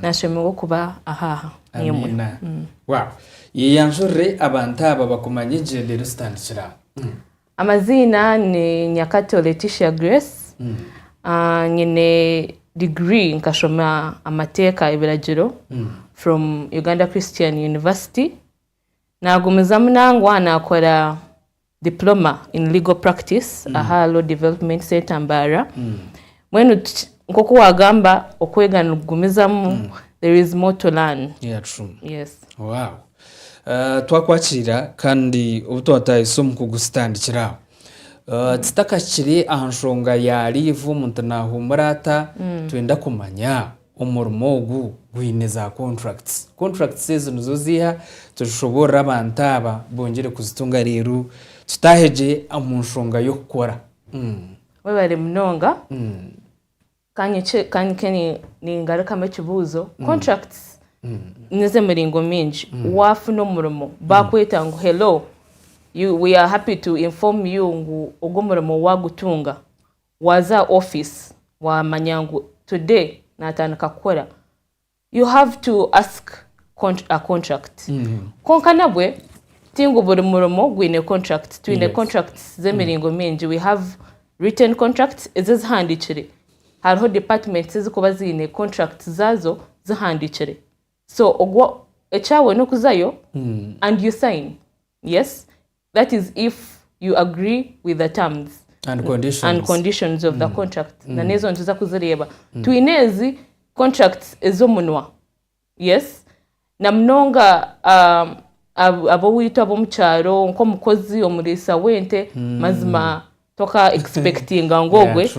nashemerwa okuba ahaha nemwe yeyanjurire abantu aba bakumanya egenda eri zitandikira amaziina ni nyakato leticia grace nyine degree nkashoma amateeka ebiragiro from uganda christian university Naagumizamu nangwa naakora Diploma in Legal Practice mm. aha Law Development Center Mbaara. Mm. Mbwenu nk'oku waagamba okwega nigugumizamu, mm. there is more to learn. Yeah, true. Yes. Wow. Uh, twakwakira kandi obu twatahise omu kugusitandikira aho uh, titakakiri aha nshonga ya liivu omuntu naahumura ata mm. twenda kumanya Omurimo ogu gwine za contracts. Contracts ezo nizo ziiha tuzishoboorore abantu aba bongere kuzitunga reero tutaahe gye omu nshonga y'okukora. Webare munonga. Ka nyiike ningarukamu ekibuuzo. Contracts n'ez'emiringo mingi. Waafuna omurimo baakweta ngu hello we are happy to inform you ngu ogu omurimo waagutunga Waaza aha office waamanya ngu today naatandika kukora, you have to ask a contract. Kwonka nabwe ti ngu buri murimo gwine contract. Twine contracts z'emiringo mingi. We have written contracts, ezo ezihandiikire. Hariho departments ezirikuba ziine contracts zaazo zihandiikire. So ogwo, ekyaawe n'okuzayo and you sign. yes that is if you agree with the terms and conditions, and conditions of the mm. contract mm. na nezo nituza kuzireeba mm. twine ezi contracts ezomunwa yes na munonga um, ab'owaitu ab'omu kyaro nk'omukozi omuriisa w'ente mm. mazima toka expectinga ngu ogwe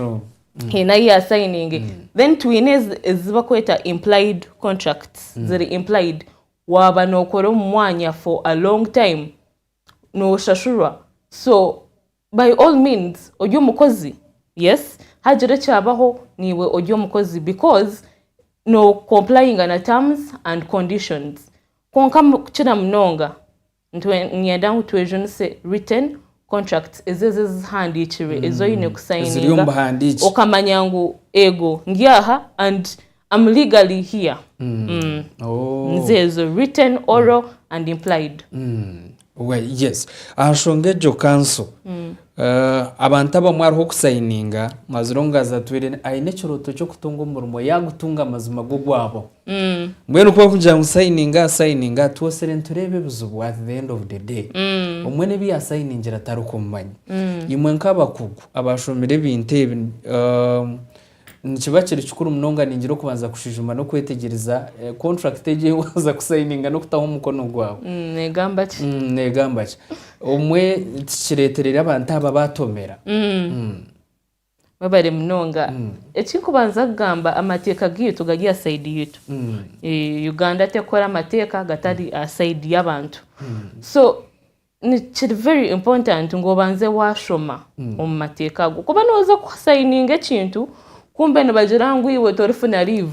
haine ayi yasayininge then twine ezi bakweta implied contracts mm. ziri implied Waaba nookora omu mwanya for a long time nooshashurwa so by all means ori omukozi yes haagira ekyabaho niiwe ori omukozi because no complyinga na terms and conditions kwonka kukira munonga Niinyenda ngu twejunise written contracts, ezo ezo ezihandiikirwe ezi oine mm. kusayininga okamanya ngu ego ndi aha and am legally here mm. Mm. Oh. nizeezo written oral and implied mm. well, yes aha nshonga egyo kanso mm. uh, abantu abamwe hariho okusayininga mazire omugazi atwire aine ekirooto ky'okutunga omurimo yaagutunga amazima g'ogwabo Mbwenu ku barikugira ngu sayininga aha sayininga twotsire nitureeba ebizibu at the end of the day omwe n'ebi yaasayiningira tarikumumanya. Imwe nk'abakugu abaashomire ebintu ebi nikiba kiri kikuru munonga ningira okubanza kushwijuma n'okwetegyereza kontrakiti egi ei waaza kusayininga n'okutaho omukono gwawe neegamba ki. Neegamba ki. Obumwe tikireetereire abantu aba baatomera. Webare munonga. Ekikubanza kugamba amateeka gaitu gari aha side yaitu. Uganda tekukora amateeka gatari aha side yabantu. So kiri very important ngu obanze washoma omu mateeka ago. Kuba noza ku signinga ekintu kumbe nibagira ngu iwe torifuna leave.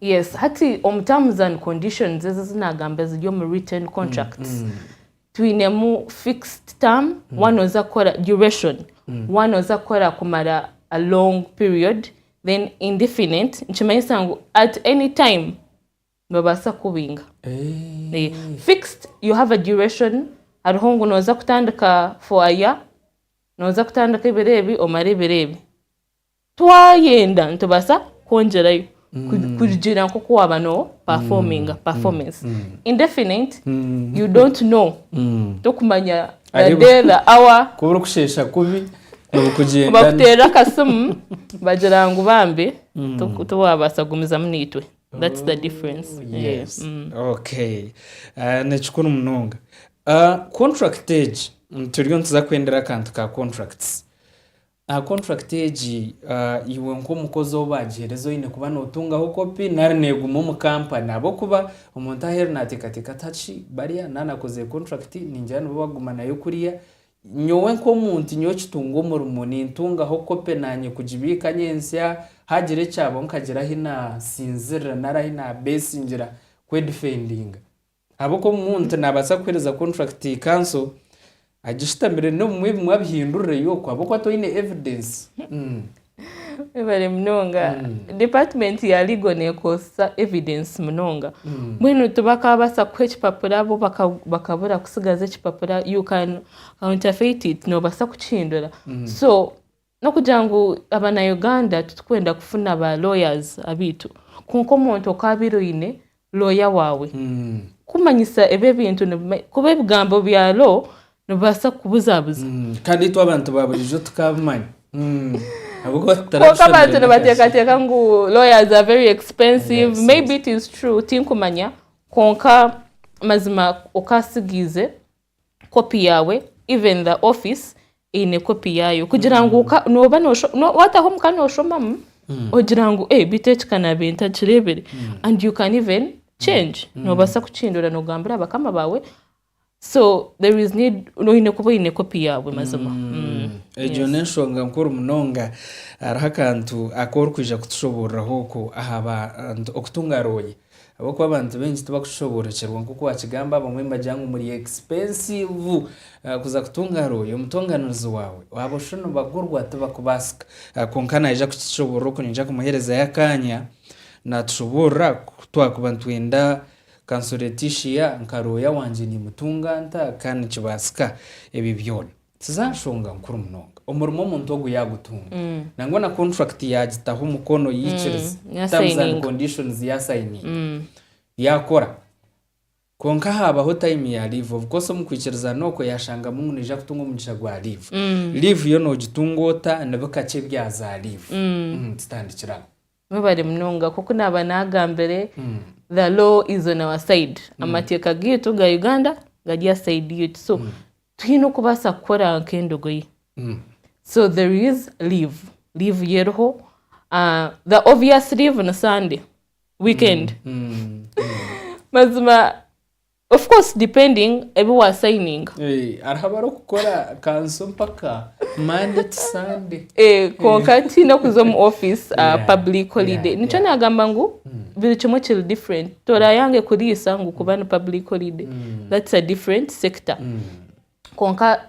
Yes hati omu terms and conditions ezi ezinagamba eziri omu written mm, contracts mm. twinemu fixed term mm. one oza kukora duration mm. one oza kukora kumara a long period then indefinite nikimanyisa ngu at any time nobaasa kubinga hey. Eh. fixed you have a duration hariho ngu noza kutandika for a year noza kutandika ebiro ebi omara ebiro ebi Twayenda nitubaasa kwongyerayo kurugiirira nk'oku waaba no performinga, performance. Indefinite, you don't know, tokumanya the day, the hour. Kuba orikusheesha kubi, orikugyenda. Bakuteerera akasimu bagira ngu bambi tiwaabaasa kugumizamu naitwe. That's the difference. Yes. Okay. Ni kikuru munonga. Contract egi, turiyo nituza kwendera akantu ka contracts. Aha kontrakiti egi, iwe nk'omukozi ou baagihereza oine kuba nootungaho kopi nari neeguma omu kampani ahabw'okuba omuntu aheeru naateekateeka ati Hati bariya naanakozire kontrakiti ningira nibo bakuguma nayo kuriya, nyowe nk'omuntu nyowe kitunga omurimo nintungaho kopi naanye kugibiika nyentsya haagira ekyabaho nkagira ahi naasinzirira nari ahi naabeesingira kwedifendinga. Ahabw'oku omuntu naabaasa kuheereza kontrakiti kanso agishutamire n'obumwe bumwe abihindurireyo oku ahabw'oku atoine evidensi. Webare munonga. Department ya Legal nekozesa evidence munonga. Mbwenu tibakabaasa kukuha ekipapura bo bakabura kutsigaza ekipapura you can counterfeit it, nobaasa kukihindura. So N'okugira ngu abanauganda titurikwenda kufuna ba lawyers abaitu kwonka omuntu okaabire oine lawyer waawe kumanyisa ebi ebintu kuba ebigambo bya law nibibaasa kukubuzabuza mm, kandi itwe abantu ba burijo tukabimanya mm. kwonka abantu nibateekateeka ngu lawyers are very expensive yes, maybe yes. it is true tinkumanya kwonka mazima okaasigiize kopi yaawe even the office eine kopi yaayo kugira ngu ka- nooba nosho- no- wataho omuka noshomamu ogira ngu "Eh, bitu eki kanabe ntakireebire and you can even change noobaasa kukihindura nogambira bakama baawe so there is need oine kuba oine kopi yaawe mazima Mm. egyo n'enshonga nkuru munonga hariho akantu aku orikwija kutushoboororahooku aha bantu okutunga rooya Ahabw'okuba abantu baingi tibakushoboorokyerwa nk'oku waakigamba, abamwe nibagira ngu muri ekipensiivu kuza kutunga ahari oyo mutonganirizi waawe. Waaba oshu nibagurwa tibakubaasika. Kwonka naija kukishoboorora oku niija kumuheerezayo akaanya. Naatushoboorora ku twakuba nitwenda kansuretishiya nka looya wangye, niimutunga nta? Ka nikibaasika ebi byona. Tiza nshonga nkuru munonga omurimo omuntu ogu yagutunga nangwa na contract yagitaho omukono yikiriza terms and Yasayininga. conditions yasayininga yakora kwonka habaho time ya leave of course omu kwikirizana okwo yashangamu ngu naija kutunga omugisha gwa leave. Leave yo nogitunga ota? Ni bikakye ebya za leave? Mm, Tutandikire aho. Mwebare munonga nkoku naba nagambire the law is on our side amateeka gaitu ga Uganda gari aha side yaitu so twine okubaasa kukora nk'endogoyi so there is leave leave yo eriho Ah, the obvious leave ni Sunday weekend mazima Of course depending ebi wa signinga. Eeh hariho abarikukora kanso mpaka Monday to Sunday. Eeh kwonka tihaine okuza omu office ah, Yeah, public holiday. yeah, Nikyo yeah. nagamba ngu buri kimwe kiri different. Torayange kuriisa ngu kuba ni public holiday. That's a different sector. Kwonka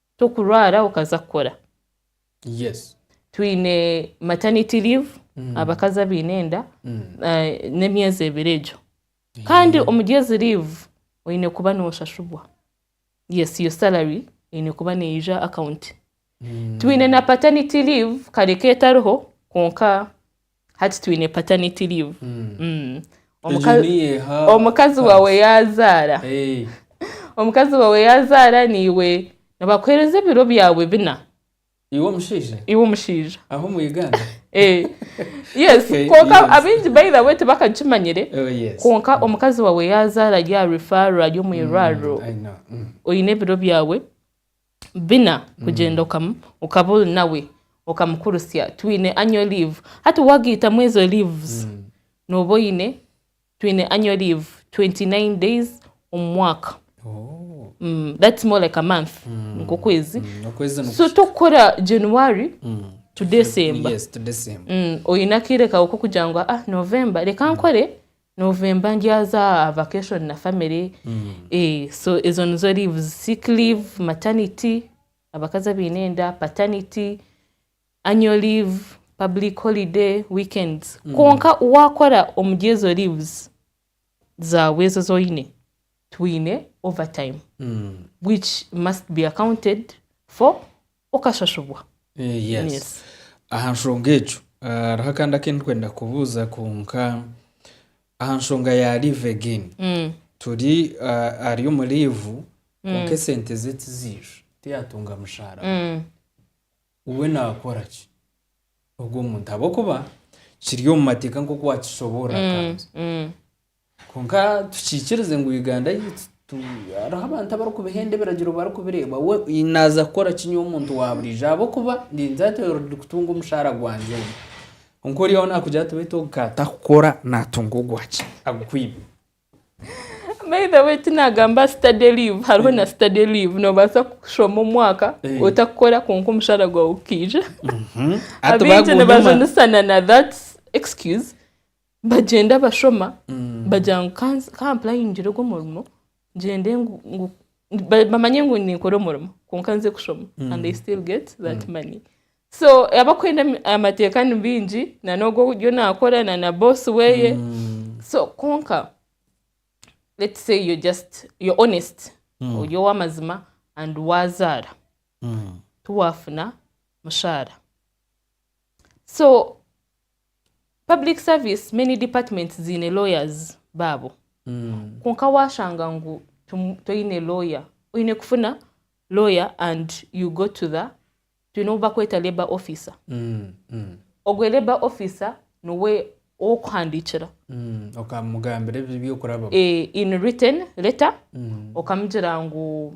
Tokurwara okaza kukora. Yes. Twine maternity leave abakazi abaine enda n'emyezi ebiri egyo. Kandi omuri ezi leave oine kuba noshashurwa. Yes your salary eine kuba neija account. Twine na paternity leave kare k'etariho kwonka Hati twine paternity leave. Mm. Omuka- Egyo niyeha omukazi waawe yaazaara Eh, omukazi waawe yaazaara niiwe nibakuheereza ebiro byawe bina iwe omushaija iwe omushaija aho omu uganda Eh, yes Okay, kwonka yes. abaingi by the way tibakakimanyire Oh, yes. kwonka omukazi waawe yaazaara ari aha refaro ari omu irwariro I know. Mm. oine ebiro byawe bina kugyenda okaba ori nawe okamukurutsya twine annual leave hati wagayitamu ezo leaves nooba oyine twine annual leave 29 days omu mwaka that's more like a month nk'okwezi so tokukora January to December oyine akaire kaawe k'okugira ngu November reka nkore November ndyaza aha vacation na family so ezo nizo leaves, sick leave, maternity, abakazi abaine enda, paternity, annual leave, public holiday, weekends. Kwonka wakora omuri ezo leaves zaawe ezo ezi oine, twine overtime which must be accounted for okashashubwa. Yes. Aha nshonga egyo hariho akandi aku ndikwenda kubuuza kwonka aha nshonga ya leave again. Turi ari omu leave kwonka esente ze tiziija, tiyatunga mushaara gwe. We naakora ki ogwo muntu ahabw'okuba kiri omu mateeka nk'oku wakishoboorora kwanza? Kwonka tukiikirize ngu Uganda yaitu hariho abantu abarikubihenda ebiragiro barikubireeba. We naaza kukora ki nyowe omuntu waaburiijo ahabw'okuba ndinze ati oyo ndi kutunga omushaara gwangye ogwo. Kwonka oriya we naakugira ati beitu ogu ka atarikukora naatunga ogwaki agukwibe. By the way ti naagamba study leave hariho na study leave noobaasa kushoma omwaka Eh. otarikukora kwonka omushaara gwawe gukaija. Hati Abaingi baagumya omwaka. nibajunisana na that excuse bagyenda bashoma bagira ngu ka nze- ka mpurayingire ogu omurimo ngyende ngu- ngu- ba- bamanye ngu ninkora omurimo kwonka nze kushoma and they still get that money so abakwenda emi- amateeka ni baingi na n'ogu ariyo naakora na na boss weeye so kwonka let's say you're just you're honest ori ow'amazima and waazaara tiwaafuna mushaara so Public service many departments ziine lawyers baabo kwonka waashanga ngu toine lawyer oine kufuna lawyer and you go to the twine obu bakweta labour officer mm, mm. ogwe labour officer nowe ow'okuhandiikira mm. okamugambira ebi by'okurabamu eh, in written letter mm. okamugira ngu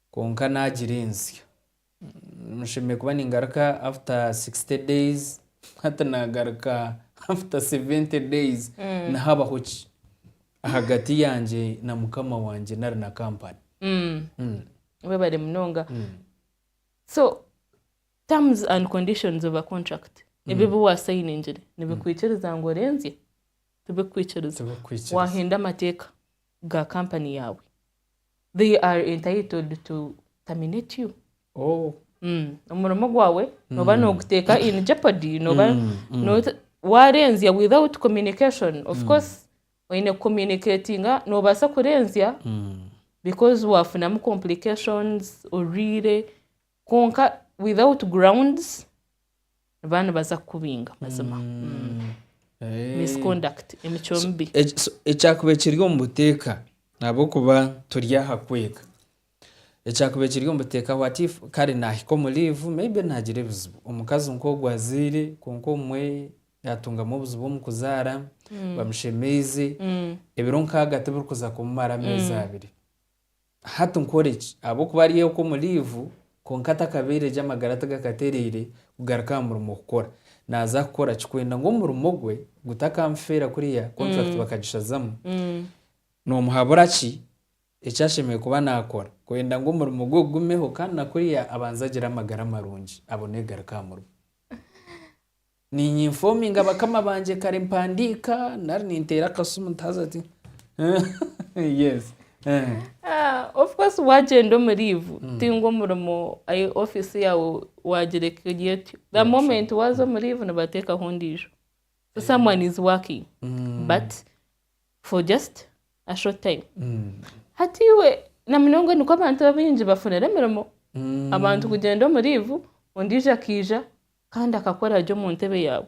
Kwonka naagira ensya. Nshemereire kuba ningaruka after sixty days, hati naagaruka after seventy days. Nihabaho ki ahagati yangye na Mukama wangye nari na kampani? Webare munonga. So terms and conditions of a contract ebi ebi waasayiningire nibikwikiriza ngu orenzye? Tibikukwikiriza. Tibikukwikiriza. Waahenda amateeka. ga company yaawe they are entitled to terminate you oh Mm. omurimo gwawe noba noguteeka in jeopardy noba Mm, mm. nota- warenzya without communication of course oine kucommunicatinga nobaasa kurenzya Mm. because wafunamu complications orwiire Kwonka without grounds baba nibaza kukubinga mazima. Eh. Misconduct, emicwe mibi. Eki- so- ekyakuba ekiri omu buteeka ahabw'okuba turi aha kwega ekyakuba ekiri omu buteeka what if kare naahika omu liivu maybe naagira ebizibu omukazi nk'ogwo azaire kwonka obumwe yaatungamu obuzibu omu kuzaara bamushemeize ebiro nkaaga tibirikuza kumumara ameezi abiri Hati nkore ki? Ahabw'okuba ari oku omu liivu kwonka atakabaire gye amagara tigakatereire kugaruka aha murimo kukora. Naaza kukora ki? Kwenda ngu omurimo gwe gutakamufeera kuriya kontrakiti bakagishazamu, noomuhabura ki eki ashemereire kuba naakora kwenda ngu omurimo gwe gugumeho kandi na kuriya abanze agire amagara marungi abone kugaruka aha murimo? Niinyinfoominga bakama bangye kare mpandiika nari ninteera akasimu nti haza ti yes Of course waagyenda omu liivu tingwa omurimo ayi ofiisi yaawe waagireka eri etyo. The moment waaza omu liivu nibateekaho ondiijo. So someone is working but for just a short time. Hati iwe na munonga nikwo abantu abaingi bafunire emirimo. Abantu kugyenda omu liivu ondiijo akaija Kandi akakora ari omu ntebe yaawe.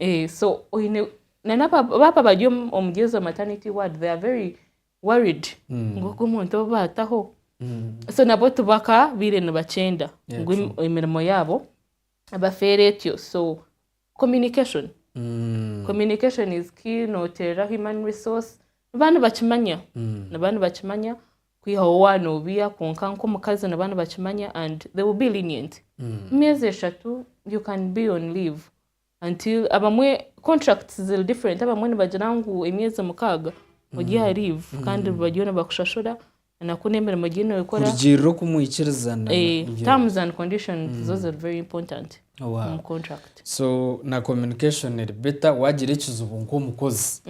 Eeh so oyine nanoba baaba bari omuri ezo maternity ward they are very worried ngu ogu omuntu obu baataho so nabo tibakabaire nibakyenda Yeah, ngu true. emirimo yaabo ebafeere etyo so communication communication is key noteereraho human resource niba nibakimanya niba nibakimanya Kwihaho wanobiya kwonka nk'omukazi niba nibakimanya and they will be lenient. Emyezi eshatu you can be on leave until abamwe contracts ziri different abamwe nibagira ngu emyezi mukaaga ori aha leave kandi bariyo nibakushashura enaku n'emirimo gyine oikora. Kurugiirira oku mwikiriza na na. Eeh terms and conditions zo ziri very important. omu contract. So na communication eri better wagira ekizibu nk'omukozi.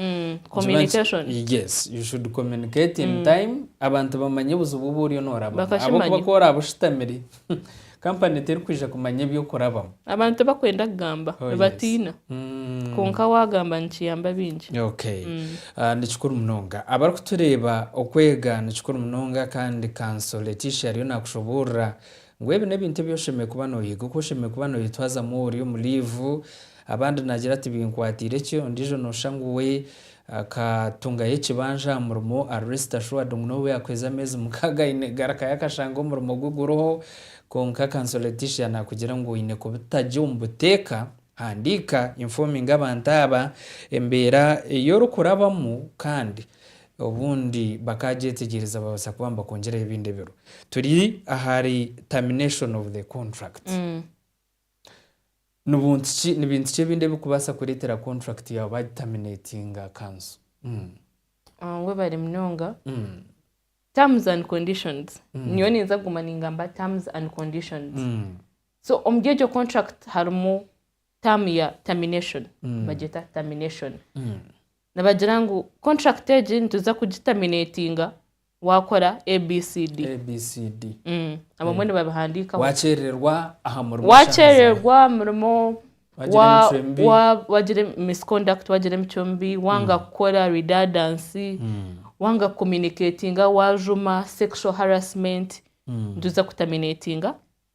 Communication. Yes, you should communicate in time abantu bamanye obuzibu obu oriyo norabamu. Bakakimanya. Ahabw'okuba ku oraabe oshutamire, company terikwija kumanya ebi okurabamu. Abantu tibakwenda kugamba, Oh, yes. nibatiina. Mm. Kwonka waagamba nikiyamba baingi. Okay. Ah, ni kikuru munonga. Abarikutureeba, okwega ni kikuru munonga kandi Kanso Leticia ariyo naakushoboorora Ngu ebi n'ebintu ebi oshemereire kuba nooyega, oku oshemereire kuba nooyetwazamu ori omu liivu. Abandi naagira tibinkwatiire ki, ondiijo nooshusha ngu we akatungayo ekibanja aha murimo ari rest assured ngu n'obu yaakuheza ameezi mukaaga aine garukayo akashanga omurimo gwe guriho. Kwonka Council Leticia naakugira ngu oine kubita gye omu buteeka, handiika, informinga abantu aba embeera ei orikurabamu kandi Obundi bakaagyetegyereza baabaasa kuba nibakongyerayo ebindi ebiro. Turi ahari termination of the contract. Ni buntu ki, ni bintu ki ebindi ebirikubaasa kureetera contract yaawe baagitaminatinga kanso? Nangwa bari munonga. Terms and conditions, nyowe ninza kuguma ningamba terms and conditions. So omuri egyo contract harimu term ya termination, nibagyeta termination. Nibagira ngu contract egi nituza kugitaminatinga wakora ABCD. ABCD. Abamwe nibabihandikaho. Wakyererwa aha murimo. Wakyererwa aha murimo. Wagira emitwe mibi. Wagira misconduct, wagira emicwe mibi, wanga kukora redundancy, wanga ku communicatinga, wajuma, sexual harassment, nituza kutaminatinga.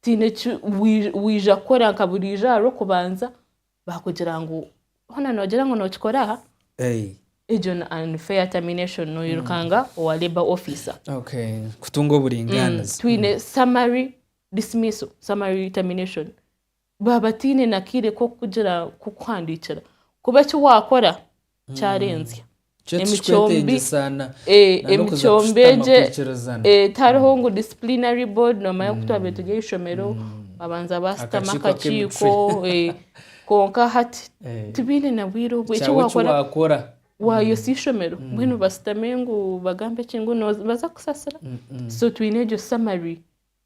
tihaine eki waija kukora nka buriijo ahabw'okubanza baakugira ngu hoona noogira ngu nookikora aha, egyo ni unfair termination noirukanga mm. owa labour officer okay. kutunga oburingaanizi mm. twine mm. summary dismissal summary termination baaba tiine na kaire k'okugira k'okuhandiikira kuba eki waakora kyarenzya Nikyo emicombi ekitwetengyesa na- eh, na n'okuza emicombi kushutama egye kwikirizana. eh, tihariho ngu disciplinary board noomanya ku twabaire turi aha ishomero babanza baasitamu Akakiiko akakiiko ak'emitwe. eh, kwonka hati Eh, tibaine na bwire obwo eki kyawe eki waakora waakora waayotsa ishomero mbwenu basitame ngu bagambe ki ngu nooza- nibaza kukusasira so twine egyo summary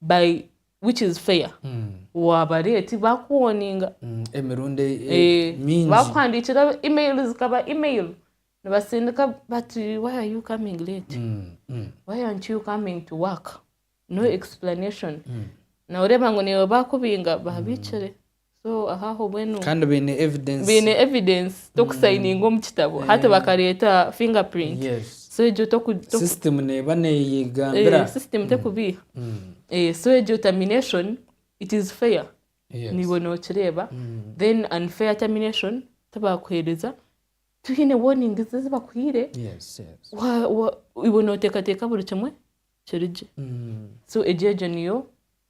by which is fair wabareeti bakuwoninga emirundi mingi bakuhandiikira email zikaba email nibasindika bati why are you coming late why aren't you coming to work no explanation nawe oreeba ngu niiwe bakubinga babiikire So ahaho bwenu kandi baine evidence baine evidence toku signinga omu kitabo hati bakareta finger print yes so egyo toku toku system neba neyegambira eh, system tekubiiha eh, so egyo termination it is fair yes niiwe nokireeba then unfair termination tibakuheereza tihaine warnings ezi bakuhaire yes yes wa- wa- iwe noteekateeka buri kimwe kiri gye so egyo egyo niyo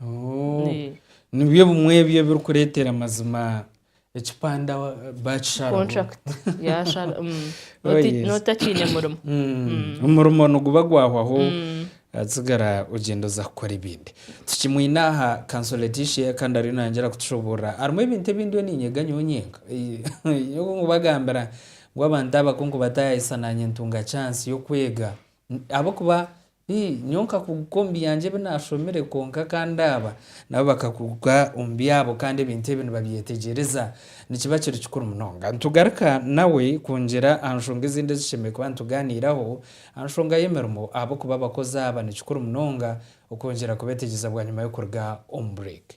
Oh, Eh. nibyo bimwe ebyo ebirikureetera amazima ekipande awa- bakisharaho contract yashara mm. Oh, Noti- yes. notakiine murimo Mm, omurimo niguba gwahwaho atsigara ogyenda oza kukora ebindi tukimwine aha kanso leticia kandi ariyo nayongyera kutushoboorora harimu ebintu ebindi we niinyega nyowe nyenka nyowe nkubagambira ngu abantu abakunkubatayayisa naanye ntunga chance y'okwega N- ahabw'okuba Ii, Nyowe nkakuguka omu byangye ebi naashomire, kwonka kandi aba nabo bakakuguka omu byabo kandi ebintu ebi nibabyetegyereza. Nikiba kiri kikuru munonga nitugaruka nawe kungira aha nshonga ezindi ezishemereire kuba nitugaaniiraho aha nshonga y'emirimo ahabw'okuba abakozi aba ni kikuru munonga okwongyera kubeetegyereza bwanyima y'okuruga omu bureeki.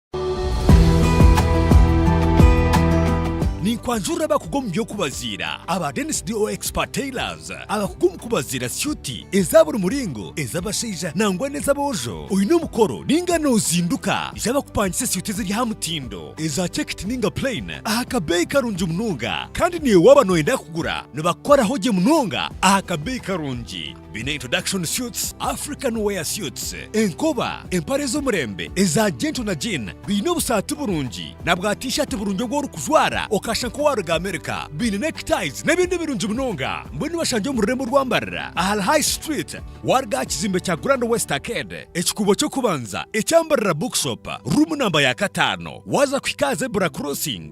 Ninkwanjurira abakugu omu by'okubaziira aba Dennis DO Expert Tailors abakugu omu kubaziira syuti eza buri muringo, ez'abashaija nangwa n'ez'aboojo. Oine omukoro ninga nozinduka? Ija bakupangise syuti eziri aha mutindo, eza chekiti ninga plain aha kabeeyi karungi munonga. Kandi naiwe waaba noyenda kugura nibakukoraho gye munonga aha kabeeyi karungi. Biine introduction suits, African wear suits, enkoba, empare z'omurembe eza gentle na jean, biine obusaati burungi na bwa t-shirt burungi obu orikujwara okashusha nk'owaaruga America, biine neckties n'ebindi birungi munonga. Mbwenu bashangye omu rurembo orwambarira ahari High Street waaruga aha kizimbe kya Grand West Arcade, ekikuubo ky'okubanza ekyambarira Bookshop, ruumu namba ya kataano waaza kuhika aha Zebra Crossing.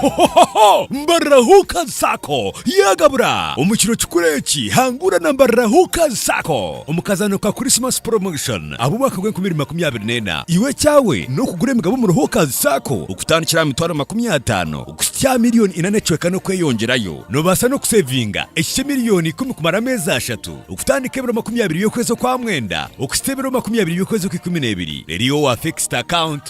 Hohohoho! Mbarira Hookers Sacco yagabura! Omu kiro kikuru eki, hangura na Mbarira Hookers Sacco omu kazaano ka Christmas Promotion ab'omwaka gw'enkumi ibiri makumi abiri n'ena. Iwe ekyawe n'okugura emigabo omuri Hookers Sacco okutandikira aha mitwaro makumi ataano kuhitsya aha milioni ina n'ecweka n'okweyongyerayo. Noobaasa n'okuseevinga eki ky'emilioni ikumi kumara ameezi ashatu, okutandika ebiro makumi abiri by'okwezi okwa mwenda okuhitsya ebiro makumi abiri by'okwezi okw'ikumi n'ebiri. Reero iwe wa fixed account.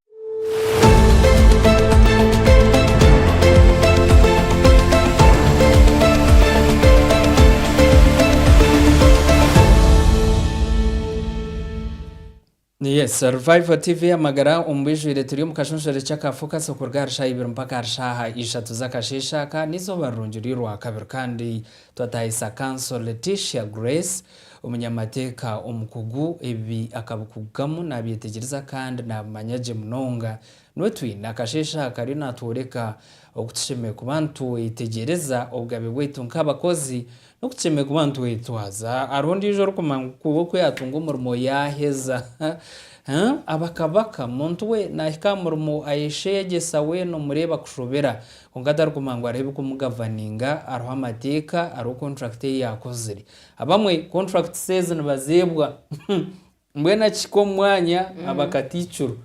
Yes, Revival TV amagara omu bijwire turi omu kashonshore ky'akafokasi okuruga aha rishaaha ibiri mpaka aha rishaaha ishatu z'akasheeshe aka n'eizooba rirungi ry'orwakabiri kandi Twataayisa Kanso Leticia Grace, omunyamateeka omukugu, ebi akabikugukamu naabyetegyereza kandi naabimanya gye munonga. Nwe twine akasheeshe aha kariyo naatworeka oku tushemereire kuba nitwetegyereza obugabe bwaitu nk'abakozi n'oku tushemereire kuba nitwetwaza. Hariho ondiijo orikumanya ngu kuba oku yaatunga omurimo yaaheza abakabaka. Muntu we naahika aha murimo ayeshegyesa weena omureeba kushobera. Kwonka tarikuguma ngu hariho ebikumugoverninga, hariho amateeka, hariho kontrakiti ei yaakozire. Abamwe kontrakiti ezi nibazeebwa mbwenu akihika omu mwanya aba katiikirwa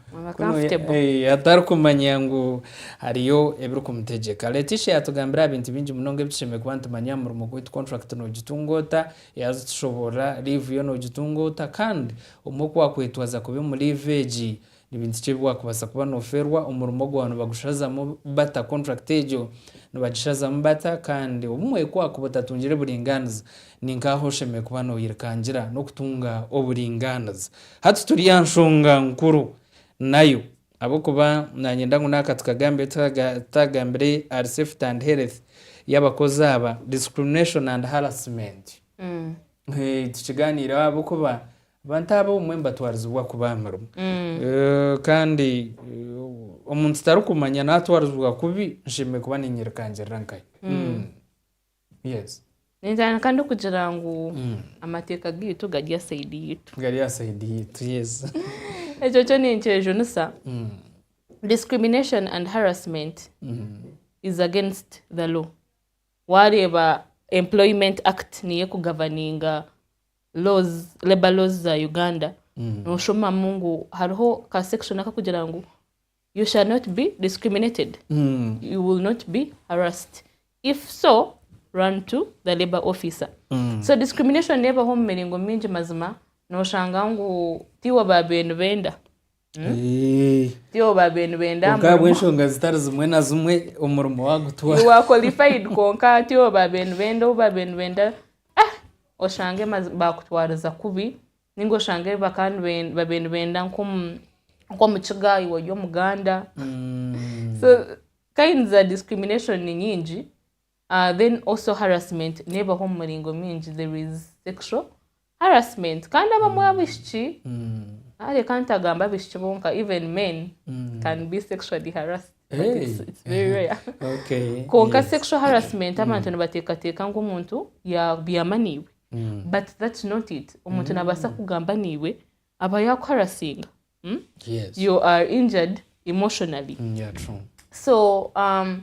atarikumanya ngu hariyo ebirikumutegyeka. Leticia yaatugambira aha bintu bingi munonga ebi tushemereire kuba nitumanya aha murimo gwaitu, kontrakiti noogitunga ota, yaaza okitushoboorora, liivu yo noogitunga ota, kandi obumwe ku waakwetwaza kubi omu liivu egi, Ni bintu ki ebi waakubaasa kuba noofeerwa omurimo ogwo? Nibagushazamu bata kontrakiti egyo? Nibagishazamu bata? Kandi obumwe ku waakuba otatungire buringaaniza, ni nk'aha oshemereire kuba nooyerekangira n'okutunga oburingaaniza. Hati turi aha nshonga nkuru nayo, ahabw'okuba naanyenda ngu naaka tukagambire tutaagambire ahari safety and health y'abakozi aba, discrimination and harassment. Tukigaaniireho ahabw'okuba abantu abo obumwe nibatwarizibwa kubi aha mirimo. Kandi omuntu tarikumanya naatwarizibwa kubi, nshemereire kuba niinyerekaangirira nkahe? Yes. Nintandika ndikugira ngu amateeka gaitu gari aha sayidi yaitu. Gari aha sayidi yaitu, yes. Ekyo kyo ninkyejunisa. Discrimination and harassment is against the law. Waareeba Employment Act niyo ekugavaninga laws, labour laws za Uganda, nooshomamu ngu hariho ka section akakugira ngu you shall not be discriminated, you will not be harassed. If so, run to the labour officer. So discrimination neebaho omu miringo mingi mazima, nooshanga ngu tiiwe aba beene benda Eh, Tyo babe nibenda aha murimo. Obw'enshonga zitari zimwe na zimwe omurimo wagutwara. You are qualified kwonka tyo babe nibenda ou babe nibenda ah oshange mazi- bakutwariza kubi ninga oshange baka niben- babe nibenda nk'omu nk'omu kiga iwe ori omuganda so kinds za discrimination ni nyingi Then also harassment nebaho omu miringo mingi, there is sexual harassment kandi abamwe abishiki ah, reka ntagambe abishiki bonka even men can be sexually harassed but Hey. it's, it's very rare Okay. konka yes. sexual harassment abantu nibateekateeka ngu omuntu yabyama niiwe Mm. but that's not it omuntu nabaasa kugamba niiwe aba yakuharasinga mm? Yes. you are injured emotionally Mm, yeah, true. so um,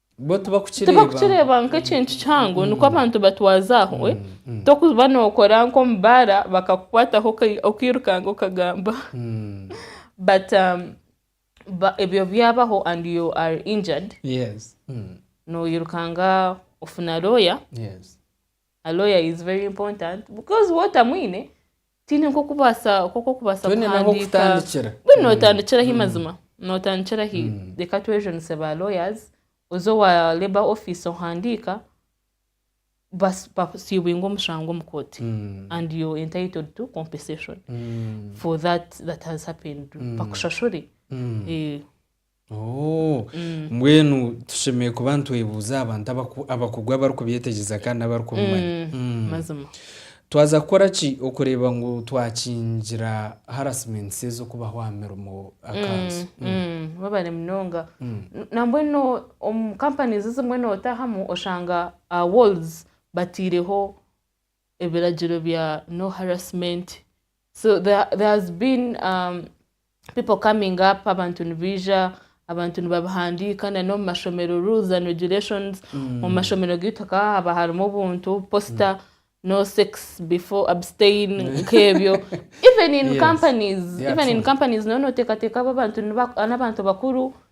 Bo tibakukireeba. Tibakukireeba nk'ekintu kihango nikwo abantu batwaza aho. eh. Tokuba nookora nk'omu baara bakakukwataho okai- okairukanga okagamba. Mm. But um, ba- ebyo byabaho and you are injured, Yes. Mm. noirukanga ofuna lawyer. Yes. A lawyer is very important because waaba otamwine, Tihaine nk'oku okubaasa nk'oku okubaasa Twine n'ahu kuhandiika. kutandikira. Mbwenu nootandikira ahi mazima? Nootandikira ahi? Reka twejunise ba lawyers, oze owa labour office ohandiika, bas- bakusiibinge omushango omu kooti and you're entitled to compensation for that that has happened, bakushashure. Eh, Oh, Mm. mbwenu tushemereire kuba nitwebuuza aha bantu abaku- abakugwa abarikubyetegyeza kandi n'abarikumumanya Mm. mazima twaza kukora ki okureeba ngu twakingira harassments ez'okubaho aha mirimo akanzu Mm, babare munonga N- nambwenu omu companies ezimwe notahamu oshanga aha walls bataireho ebiragiro bya no harassment so there has been um, people coming up abantu nibaija abantu nibabihandiika na n'omu mashomero rules and regulations mm. omu mashomero gaitu hakaba haba harimu obuntu poster mm. no sex before abstain mm. nk'ebyo even in yes. companies yes. even in companies noneoteekateeka abo abantu n'abantu bakuru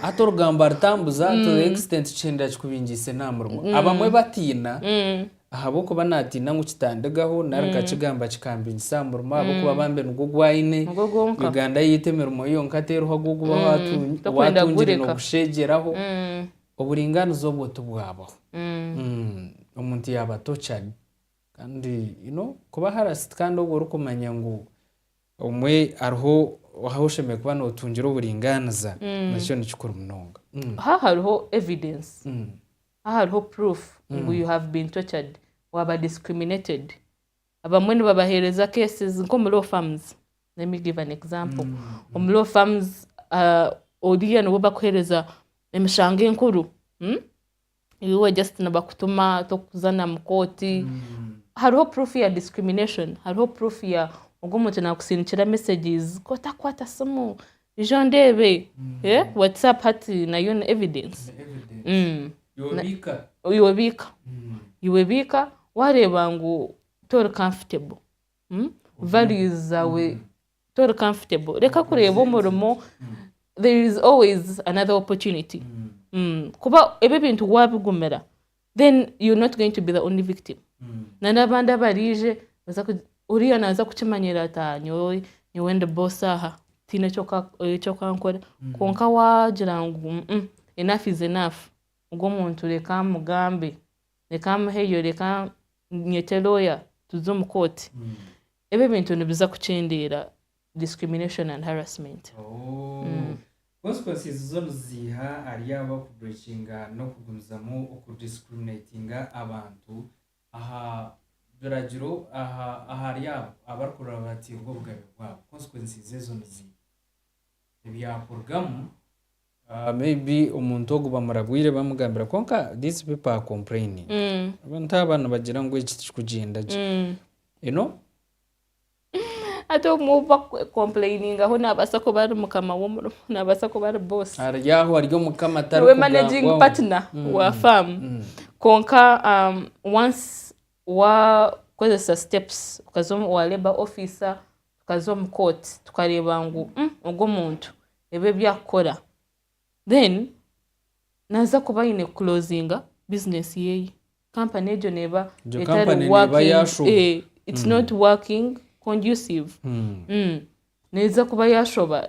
Hati orugambo aritambuza to the extent kihindura kikubingiise n'aha murimo. Abamwe batiina ahabw'okuba naatiina ngu kitandigaho nari nkakigamba kikambingisa aha murimo ahabw'okuba bambe nigwo ogu aine. Nigwo gwonka. Uganda yaitu emirimo yonka teriho ahabw'okuba waatu- Tokwenda waatungire kugurika. n'okusheegyeraho. Oburingaaniza obwo tibwabaho. Mm, Omuntu yaaba tortured. Kandi you know kuba harassed kandi obwo orikumanya ngu Omwe hariho ahu oshemereire kuba notungira oburingaaniza nakyo ni kikuru munonga. Aha hariho evidence, aha hariho proof ngu you have been tortured, waaba discriminated. Abamwe nibabaheereza cases nk'omu law firms, let me give an example, omu law firms oriiya niwe bakuheereza emishango enkuru. iwe just nibakutuma tokuza na mukooti hariho proof ya discrimination hariho proof ya ogwo muntu nakusindikira messages kooti akukwata simu ija ondeebe eh, whatsapp hati nayo ni evidence Mm. yobiika iwe biika iwe biika wareeba ngu tori comfortable mm, values zaawe tori comfortable reka kureeba omurimo there is always another opportunity Mm. kuba ebi ebintu wabigumira then you're not going to be the only victim na n'abandi abaraije baza ku- oriya naza kukimanyirira ati "Ah, nyowe nyowe ndi boss aha tihaine ekyoka- ekyokankora kwonka wagira ngu "Mm, mm, enough is enough ogu omuntu reka mugambe reka muheyo reka nyete lawyer tuze omu kooti Ebi ebintu nibiza kukyendeera discrimination and harassment. Ooh. Consequences zo niziiha ahari abo abaku breakinga n'okugumizamu oku discriminatinga abantu aha biragiro aha ahari abo abari kurora batiirwa obugabe bwabo. Consequences ezo niziiha? Ebyakurugamu. Maybe omuntu ogu bamurabwire bamugambira kwonka these people are complaining abantu aba nibagira ngu eki tikikugyenda gye you know. Hati omwe owu bakukompureyiningaho naabaasa kuba ari mukama w'omurimo naabaasa kuba ari boss ari aho ari omukama niwe managing partner wa faamu kwonka once Waakozesa steps okaza owa labour officer, tukaza omu court tukareeba ngu ogu omuntu ebi ebi arikukora then naaza kuba aine kuclosinga business yeeye company egyo neeba Egyo etari company neeba working, yaashoba. eh, it's not working conducive. Neeza kuba yaashoba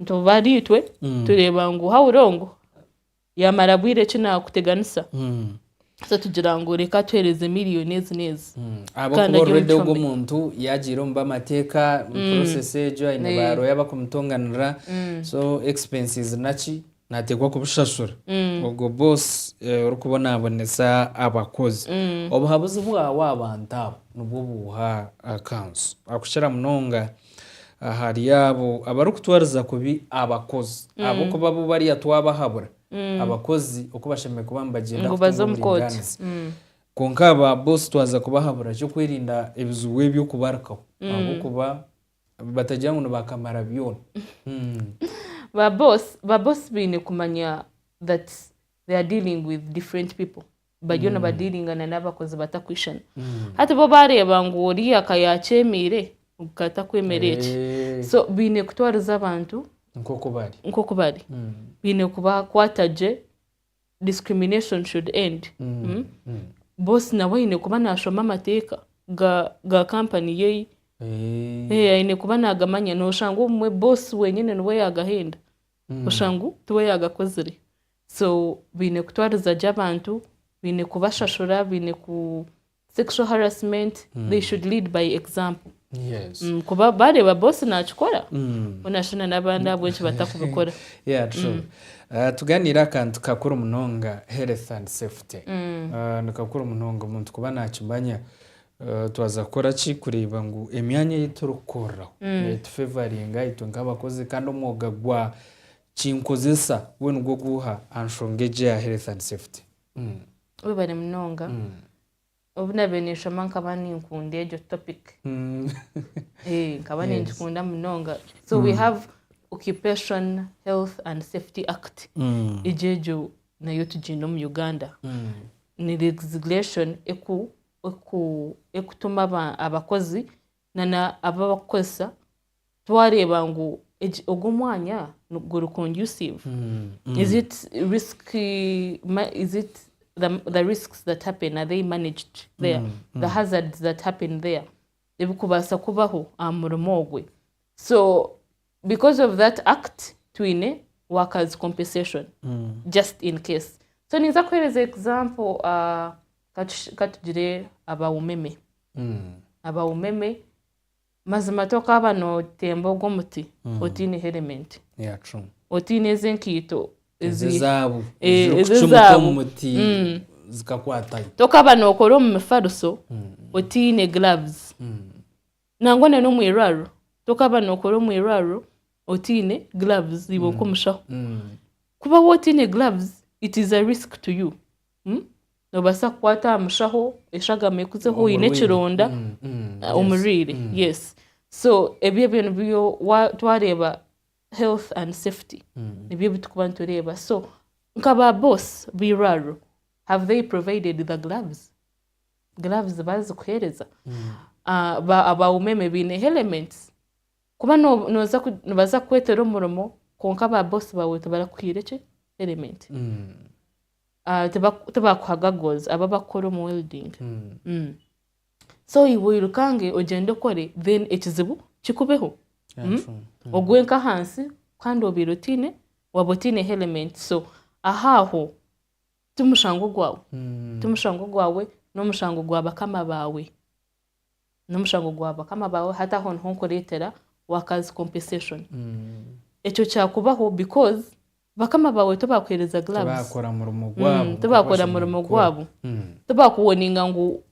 Nituba ahari itwe tureeba ngu hahurire ogu yaamara bwire ki naakuteganisa, so tugira ngu reka atuheereze miriyoni ezi n'ezi. Ahabw'okuba Kandi ari already omu ogwo kicwambe. omuntu yaagiire omu b'amateeka process egyo aine Eh. baarooya bakumutonganirira so expenses naki nategwa kubishashura ogwo boss orikubonabonesa abakozi obuhabuzi bwawe abantu abo nibwo buha akansu akukira munonga ahari abo abarikutwariza kubi abakozi ahabwokuba bo bariya twabahabura abakozi okubashemereire kuba nibagyenda ngu baze omu kooti kwonka ba boss twaza kubahabura ekyokwerinda ebizibu ebyo kubarukaho ahabwokuba Batagira ngu nibakamara byona. Ba boss ba boss baine kumanya that they are dealing with different people. Bariyo nibadiiringa na n'abakozi batakwishana. Hati bo baareeba ngu oriya ka yaakyemeire, ogu ka takwemera eki. Eh, So baine kutwariza abantu nk'oku bari. nk'oku bari. Baine kubakwata gye discrimination should end mm, boss nawe aine kuba nashoma amateeka ga ga company yeye Eh, Eh, aine kuba nagamanya noshanga obumwe boss wenyine niwe yagahenda oshanga ngu tiwe yagakozire so baine kutwariza gye abantu baine kubashashura baine ku Sexual harassment they should lead by example kuba bareeba boss nakikora boona shana nabandi ahabw'enki batakubikora. Yeah true tuganiire akantu kakuru munonga health and safety nikakuru munonga omuntu kuba nakimanya twaza kukora ki kureeba ngu emyanya ei turikukoreraho netu favoringa itwe nk'abakozi kandi omwoga gwa kinkozesa gwe nigwo guha aha nshonga egi eya health and safety. Webare munonga. Obu nabaire ninshoma nkaba ninkunda egyo topic. Nkaba ningikunda munonga. So we have Occupation Health and Safety Act. Egyo egyo nayo tugiine omu Uganda. Ni legislation ekutuma abakozi nana abu abakukozesa twareeba ngu ogu omwanya guri conducive mm. is it risk is it the, the risks that happen are they managed there mm. Mm. the hazards that happen there ebikubaasa kubaho aha murimo ogwe so because of that act twine workers compensation mm. just in case so ninza kuhereza example uh, Ka tush- ka tugire aba umeme aba umeme mazima tokaaba notemba ogwo omuti otaine helmet Yeah, true. otaine ezi enkaito ezi ezi ezaabu Eh, eziri ezi kucumuta ezaabu. omu muti Mm. zikakwatayo tokaba nokora omu mifariso otaine gloves nangwa na n'omu irwariro tokaba nokora omu irwariro otaine gloves iwe nk'omushaho Mm. kuba wotaine gloves it is a risk to you Noobaasa kukwata aha mushaho eshagama ekuzeho oine ekironda omurwaire yes so ebyo ebyo nibyo twareeba health and safety nibyo ebi turikuba nitureeba so nka ba boss b'eirwariro have they provided the gloves? Gloves baazikuheereza? Ba umeme baine elements? Kuba nooza nibaza kukweetera omurimo kwonka ba boss baawe tibarakuhaire ki element? ah, tiba- tibakuha goggles abo abakukora omu welding Mm. so iwe oyirukange ogyende okore then ekizibu kikubeho Yeah, Mm. true. ogwe nk'ahansi kandi obaire otiine waba otiine helmet so aha aho timushango gwawe Mm. timushango gwawe n'omushango gwa bakama baawe nomushango gwa bakama bawe hati aho niho nkuretera workers compensation ekyo kyakubaho because bakama bawe tibakuhereza gloves mm, tibakora murimo gwabo mm. tibakuwoninga ngu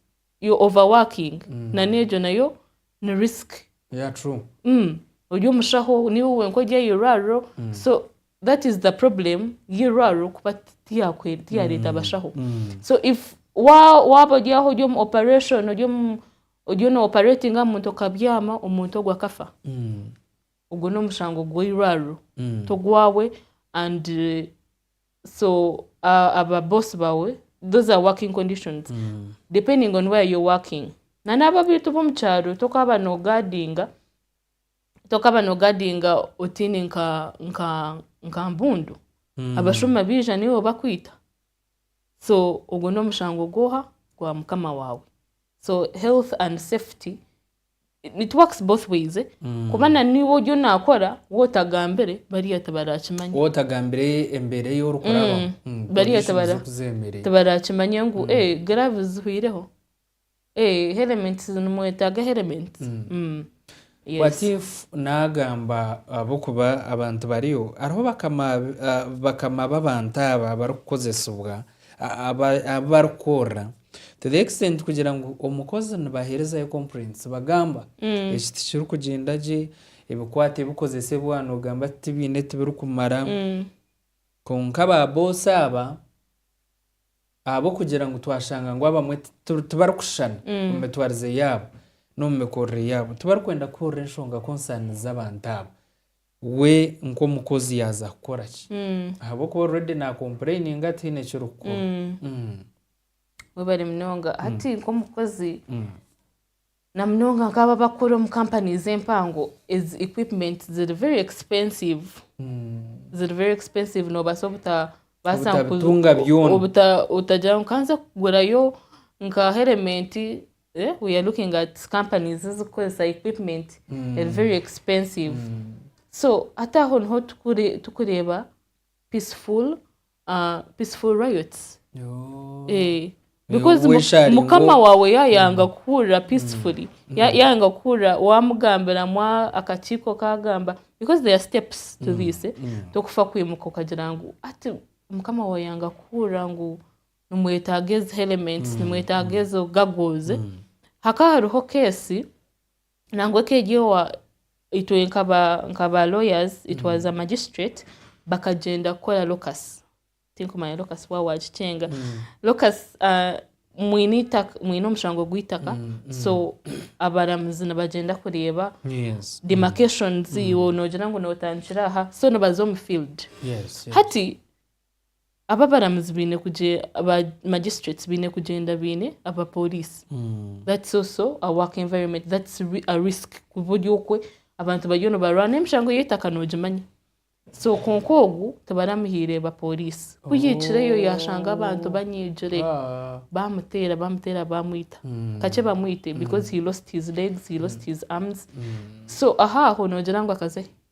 yo overworking mm. nana egyo nayo ni risk yeah, true. Mm. ori omushaho niwe wenka ori airwariro mm. so that is the problem y'eirwariro kuba tiyareeta abashaho so if waaba ori aho ori omu operation ori no operating aha muntu okabyama omuntu ogwo akafa mm. ogwo n'omushango gw'eirwariro mm. togwawe and uh, so uh, aba boss bawe those are working conditions mm. depending on where you're working na n'abo abaitu b'omu kyaro tokaba nogadinga tokaba nogadinga otiine nka nka nka mbundu abashuma baija niiwe bakwita so ogwo nomushango gwoha gwa mukama waawe so health and safety it works both ways eh? kuba na niiwe oryo nakora wotagambire bariya tibarakimanya wowe otagambire embeera ei orikurabamu Mm. Mm, Bariya conditions tibara- z'okuzeemerera. tibarakimanya ngu eh, gloves zihwireho Eeh helmet nimwetaaga helmet yes. What if nagamba ahabwokuba abantu bariyo hariho bakama babantu aba abarikukozesibwa abu barikukorera to the extent kugira ngu omukozi nibaherezayo complaints bagamba eki tikirikugyenda gye ebikwate ebikozesibwa nogamba tibiine tibirikumara kwonka ba boss aba. Ahabw'okugira ngu twashanga ngu abamwe tibarikushushana omu mitwarize yaabo n'omu mikorere yaabo, tibarikwenda kuhurira enshonga konsaani z'abantu abo, we nk'omukozi yaaza kukora ki? Ahabw'okuba already naakompureyininga tihaine eki orikukora. Webare munonga. Hati nk'omukozi. Na munonga nk'abo abakukora omu companies empango, ezi equipment ziri very expensive. Ziri very expensive nobaasa obutabaasa nkuzi- Obutabitunga byona. obuta otagira ngu kanze kugurayo nka helmet eh, we are looking at companies ezikukoresa equipment eri very expensive. So hati aho niho tukure- tukureeba peaceful. Ah, peaceful riots. Eh, because mu- Wesharinga. mukama waawe yaayanga kuhurira peacefully Ya- yaayanga kuhurira waamugambira mu a- akakiiko kaagamba because there are steps to this eh. tokufa kwimuka okagira ngu ati mukama waawe yanga kuhurira ngu nimwetaaga ezi elements nimwetaaga ezo gagos eh. hakaba hariho keesi Nangwa ekeeryowa itwe nka ba nka ba lawyers itwaza magistrate bakagyenda kukora locus tinkumanya locus wa wagikyenga locus ah, mwine itaka mwine omushango gw'itaka so abaramuzi nibagyenda kureeba Yes. demarcations iwe noogira ngu nootandikira aha so nibaza omu field Yes. yes. hati Aba abaramuzi baine kugye aba magistrates baine kugyenda baine aba police. That's also a work environment. That's ri- a risk kuba ori okwe abantu bariyo nibarwana emishango y'eitaka nogimanya. So kwonka ogu tibaramuhiire ba police. Ku yaikireyo yashanga abantu banyigire Ah. bamuteera bamuteera bamwita. Kakye bamwite because he lost his legs, he lost his arms. So aho aho nogira ngu akazehe?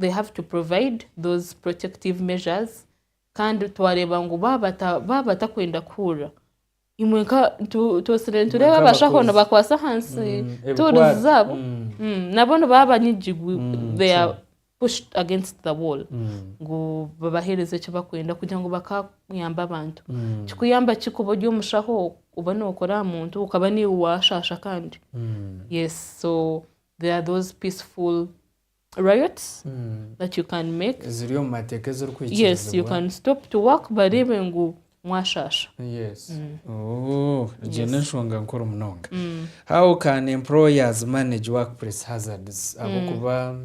they have to provide those protective measures kandi twareeba ngu baaba batakwenda kuhurira imwe nka twosire nitureeba abashaho nibakwasa ahansi mm, tuurizi zaabo mm. mm, nabo nibaba banyigirwe mm, they are pushed against the wall ngu babaheereze eki bakwenda kugira ngu bakayamba abantu kikuyamba ki kuba ori omushaho oba nookora aha muntu ukaba niiwe waashaasha kandi yes so there are those peaceful riots that you can make eziri omu mateeka yes you ezirikwikirizibwa can stop to work bareebe ngu mwashaasha Yes. Oh, egyo Yes. n'enshonga nkuru munonga how can employers manage workplace hazards ahabw'okuba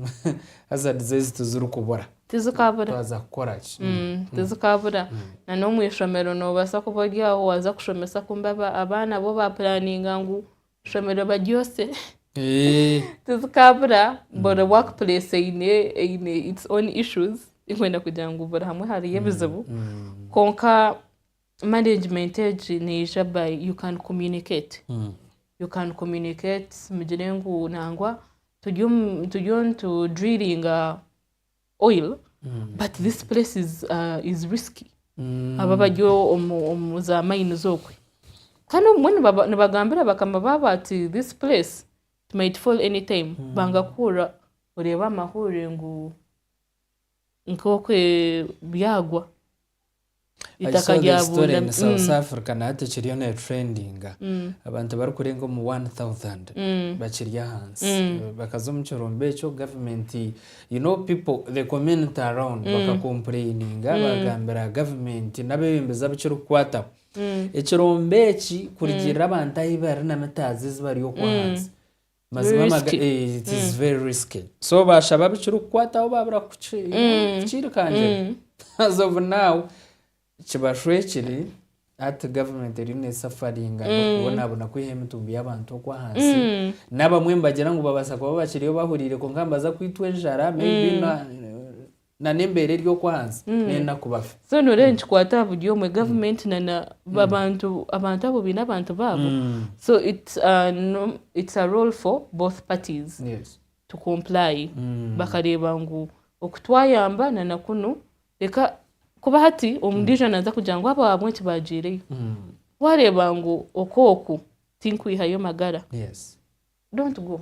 hazards ezi tizirikubura tizikabura twaza kukora ki Mm, tizikabura na n'omu ishomero noobaasa kuba ori aho waaza kushomesa kumbe aba- abaana bo baapuraninga ngu Shomerwa ba Jose tizikabura buri work place eine eine its own issues tikwenda kugira ngu buri hamwe hariyo ebizibu kwonka management egi neija by you can communicate you can communicate mugire ngu nangwa turiyo turiyo nitu drillinga oil but this place is, uh, is risky aba bari omu- omu za mines okwe kandi obumwe nibaba- nibagambira bakama baabo ati this place it might fall any time banga kuhurira oreeba amahurire ngu nk'okwe byagwa. Itaka ryabunda mu South Africa na hati ekiriyo neetureendinga. Abantu barikurenga omu one thousand bakiri ahansi. Bakaza omu kirombe ekyo gavumenti you know people the community around bakakompureyininga baagambira gavumenti n'abeebembezi abu kirikukwataho. Ekirombe eki kurugirira abantu ahi bari na mitaazi ezi bari okwo ahansi. Mazima maga Risky. eh, it is very risky so bashaba bikirikukwataho babura kuki- kukirikangira as of now kibashwekire hati government eriyo nesafaringa n'okubonabona kwiha emitumbi y'abantu okwa hansi n'abamwe nibagira ngu babasa kuba bakiriyo bahuriire kwonka nibaza kwitwa enjara maybe na- na n'embeera eri okwo ahansi n'enaku bafe. So noreeba nikikwata aha buri omwe, government na na abantu abantu abo baine abantu baabo. So it's a no it's a role for both parties Yes. to comply bakareeba ngu oku twayamba na na kunu reka kuba hati omundijo naza kugira ngu abo ahabw'enki bagiireyo. Wareeba ngu oku oku tinkwihayo magara Yes. don't go.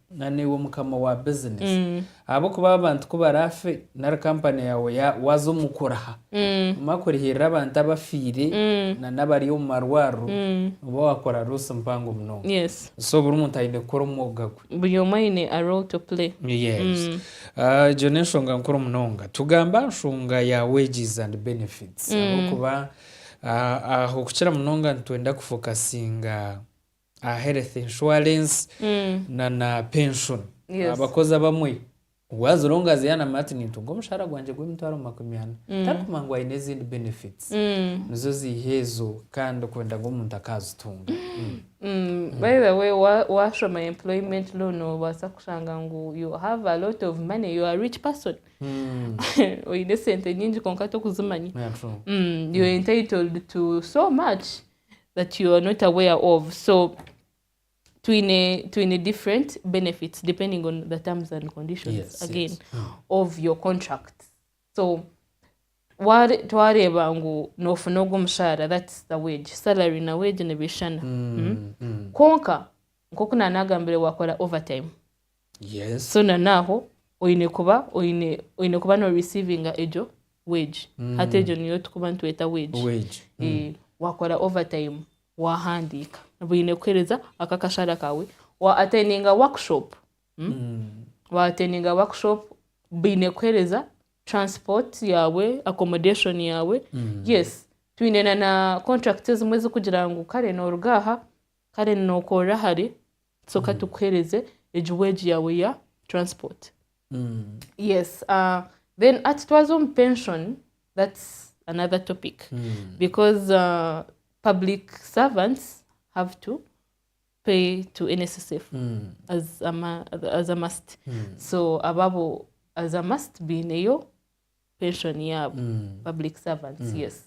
Na naiwe mukama wa business ahabw'okuba abantu ku baraafe nari kampani yaawe ya- waza omu kuriha, omara kurihirira abantu abafiire na n'abari omu marwariro, nooba waakora loss mpango munonga. yes So buri muntu aine kukora omwoga gwe. buri omwe aine a role to play Yes. Ah, egyo n'enshonga nkuru munonga. Tugambe aha nshonga ya wages and benefits ahabw'okuba ah, aho kukira munonga nitwenda kufokasinga aha health insurance na na pension. Yes. Abakozi abamwe we as long as yanamanya ati nintunga omushahara gwangye gw'emitwaro makumi ana tarikumanya ngu aine ezindi benefits nizo ziiha ezo kandi okwenda ngu omuntu akaazitunga. Mm, by the way wa- washoma employment law noobaasa kushanga ngu you have a lot of money you are a rich person Mm. oine esente nyingi kwonka torikuzimanya Yeah, true. Mm, you're entitled to so much that you are not aware of so twine twine different benefits depending on the terms and conditions yes, again yes. Mm. of your contract so twareeba ngu nofuna ogwo omushahara thats the wage salary na wage nibishana mm, mm. mm. kwonka nkoku nanagambire wakora overtime Yes. so na naaho oine kuba oine oine kuba no receivinga egyo wage hati egyo niyo tukuba nitweta wage Wage. Eh, wakora overtime wahandiika baine kukuhereza ako akashara kawe wa attendinga workshop mm? wa attendinga workshop baine kukuhereza transport yaawe accommodation yaawe yes twine na na contract ezimwe ezikugira ngu kare noruga aha Kare ninokorera hare kitoka tukuhereze egi wage yawe ya transport yes uh, then ati twaza omu pension that's another topic because uh, public servants have to pay to NSSF as a, ma- as a must so ababo as a must biineyo pension yaabo public servants yes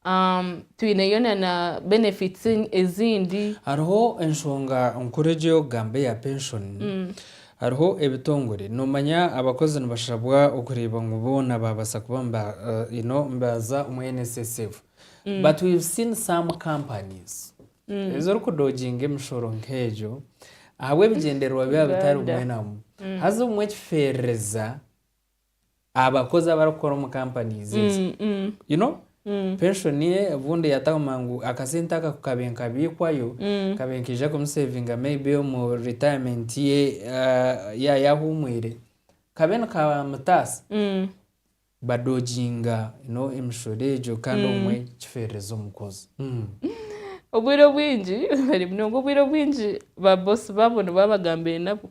Um, twineyo na na benefits en- ezindi hariho enshonga nkuru egi ey'okugamba eya penshoni hariho ebitongore noomanya abakozi nibashabwa okureeba ngu boona baabaasa kuba niba eh, you know, nibaza omu nssf but we've seen some companies ezirikudoginga emishoro nk'egyo ahabw'ebigyendererwa byabo bitari Uganda. bimwe na bimwe haza obumwe ekifeerereza abakozi abarikukora omu companies ezi you know pension ye obundi yataguma ngu akasente aka ku kabe nkabiikwayo kabe nkaija kumusevinga maybe omu retirement ye ah, ya yahumwire kabe nikamutaasa badoginga you know emishoro egyo kandi obumwe kiferereza omukozi Obwire obwingi, very munonga obwire obwingi ba boss baabo nibo abagambire nabo.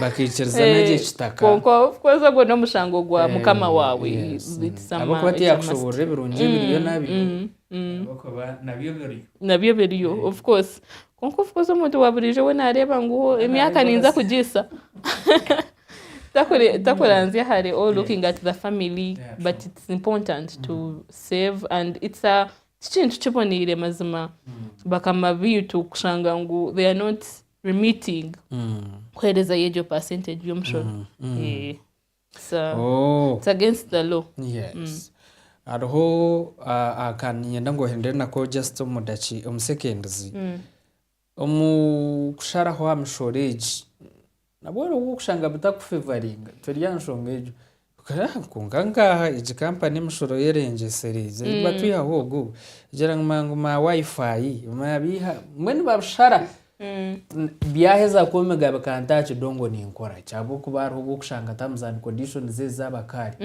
bakaikirizana gye kitaka kwonka kwonka ogwo n'omushango gwa eh, mukama waawe ahabw'okuba tiyakushoboorora ebirungi ebiriyo mm, nabyo mm, mm. ahabw'okuba nabyo biriyo nabyo biriyo eh. of course kwonka of course omuntu wa buriijo we naareeba ngu emyaka ninza kugiisa takuranzya hare all looking at the family but it's important to save and it's a tikintu kiboniire mazima bakama biitu kushanga ngu they are not remitting kuheereza yo egyo percentage y'omushoro Eh, it's, uh, Oh. it's against the law yes hariho ah, ah, ka ninyenda ngu ohendere nako just omu daki omu seconds omu kusharaho aha mishoro egi nabwo hariho obu okushanga bitakufevaringa turi aha nshonga egyo Kwonka nkaaha egi kampani emishoro y'erengyesire gye ei batwihaho ogu kugira ngu ma ngu ma Wi-Fi maabiiha mbwenu babishara byaheza kwomiga bikanta aha kidongo ninkora ki ahabw'okuba hariho obu okushanga terms and conditions ezi z'abakaare.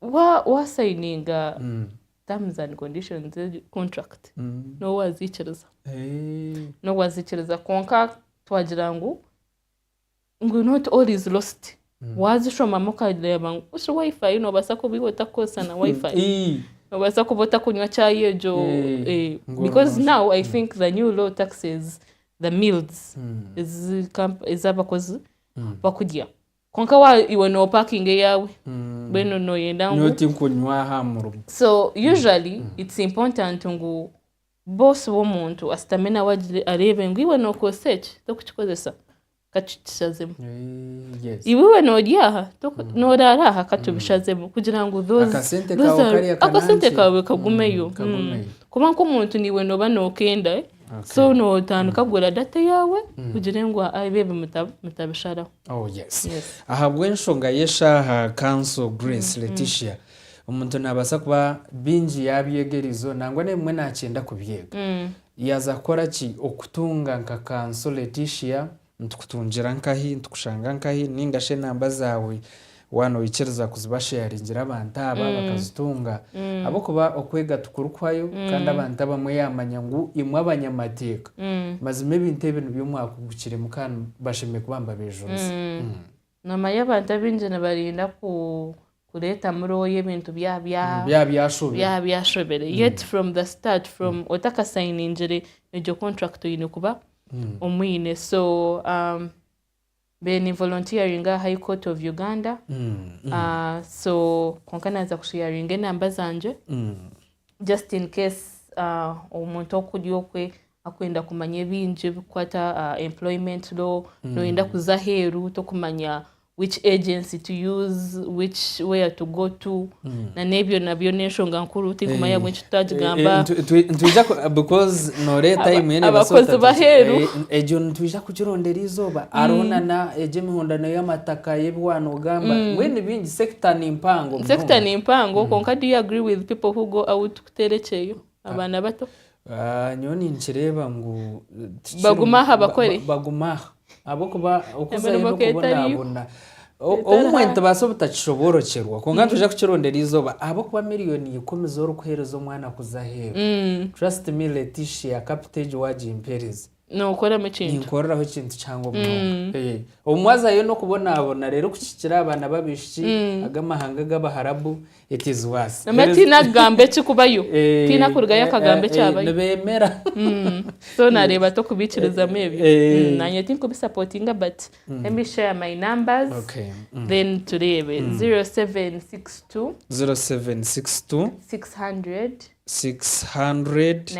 Wa waasayininga terms and conditions egi contract n'obu waaziikiriza n'obu waaziikiriza kwonka twagira ngu ngu not all is lost waazishomamu okareeba ngu bushi wifi noobaasa kuba iwe otakukozesa na wifi Ii. noobaasa kuba otakunywa chai egyo Eh, eh, ngono. because now i think the new law taxes the meals ezi kamp- ezi abakozi bakurya kwonka wa- iwe noopakinga eyaawe mbwenu nooyenda ngu nyowe tinkunywa aha murimo so usually it's important ngu boss w'omuntu ashutame nawe agire- areebe ngu iwe nookozesa eki tokukikozesa katutushazemu iwewe nori aha mm. norara aha katubishazemu mm. kugira ngu akasente kawe kagumeyo mm, kuba nk'omuntu niwe noba nokenda eh? so notandika kugura data yaawe kugira ngu abe ebi mutabisharaho oh, ahabw'enshonga y'eshaaha kanso grace leticia omuntu nabaasa kuba bingi yabyega erizo nangwa n'ebimwe nakyenda kubyega Yaaza kukora ki? Okutunga nka kanso Leticia. Nitukutungira nkahi? Nitukushanga nkahi? Ninga shi enamba zaawe waaba noikiriza kuzibasheyaringira abantu aba bakazitunga? Ahabw'okuba okwega tikurikuhwayo kandi abantu abamwe yaamanya ngu imwe abanyamateeka mazima ebintu ebi nibyo mwakugukiremu kandi bashemereire kuba nibabejuriza. Noomanya abantu abaingi nibarinda kureeta murooyo ebintu byaba byashobire yet from the start from otakasayiningire egyo contract oine kuba omwine so mbere ninvolontiyaringa aha High Court of Uganda so kwonka naaza kusheyaringa enamba zangye just in case omuntu okuri okwe akwenda kumanya ebingi ebikukwata aha uh, employment law mm. noyenda kuza aheeru tokumanya which agency to use which where to go to mm. na n'ebyo nabyo n'enshonga nkuru tinkumanya eh. bwenki tutagigamba eh, eh, nitwija because nore time yene abakozi baheeru egyo nitwija kugirondera izooba hariho mm. nana egyo emihondano y'amataka y'ebiwaana ogamba mm. mbwenu bingi sector ni mpango sector ni mpango konka do you agree with people who go out kuteera ekyeyo abaana bato Ah, nyowe ninkireeba ngu tikiri- Bagume aha ba- bakore. ba- bagume aha ahabw'okuba okuzayo Emirimo ka etariyo. n'okubonabona O- Etari obumwe aha. nitubaasa obutakishoboorokyerwa kwonka nitwija kukirondera eizooba ahabw'okuba miliyoni ikumi z'orikuheereza omwana kuza aheeru trust me Leticia kapita egi waagimpeereza Nookoramu ekintu. Ninkoreraho ekintu kihango munonga. Eh, Obu mwazayo n'okubonaabona, reero kukikira abaana b'abaishiki ag'amahanga g'Abaharabu, it is worse. Namara There is- tiine akugamba eki kubayo. Eh, Tiine akurugayo eh, akagamba eh, ekyabayo. Nibeemera. So naareeba ata okubiikirizamu ebyo. Eh. Mm, Naanye tinkubisapootinga but let me share my numbers Okay. Mm. then tureebe 0762 0762 600 683.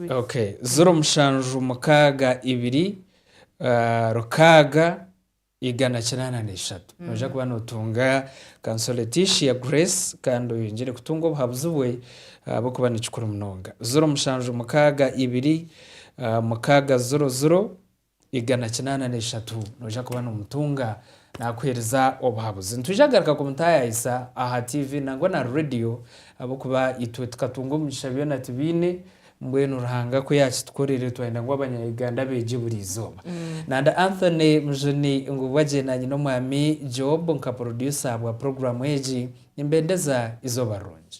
Ok, ziro mushanju mukaaga ibiri rukaaga igana kinaana na ishatu. Noija kuba notunga Consolaticia Grace kandi oyongyere kutunga obuhabuzi bwe ahabw'okuba ni kikuru munonga. Ziro mushanju mukaaga ibiri mukaaga ziro ziro igana kinaana n'eshatu noija kuba noomutunga naakuheereza obuhabuzi. Nitwija kugaruka kumutaayayisa aha tiivi nangwa na reediyo ahabw'okuba itwe tukatunga omugisha byona tibiine, mbwenu Ruhanga ku yaakitukorere twayenda ngu Abanya-Uganda beegye buriizooba. Nanda Anthony Mujuni Ngubwa gye naanye n'omwami Job nka purodyusa bwa puroguraamu egi, nimbendeza izooba rirungi.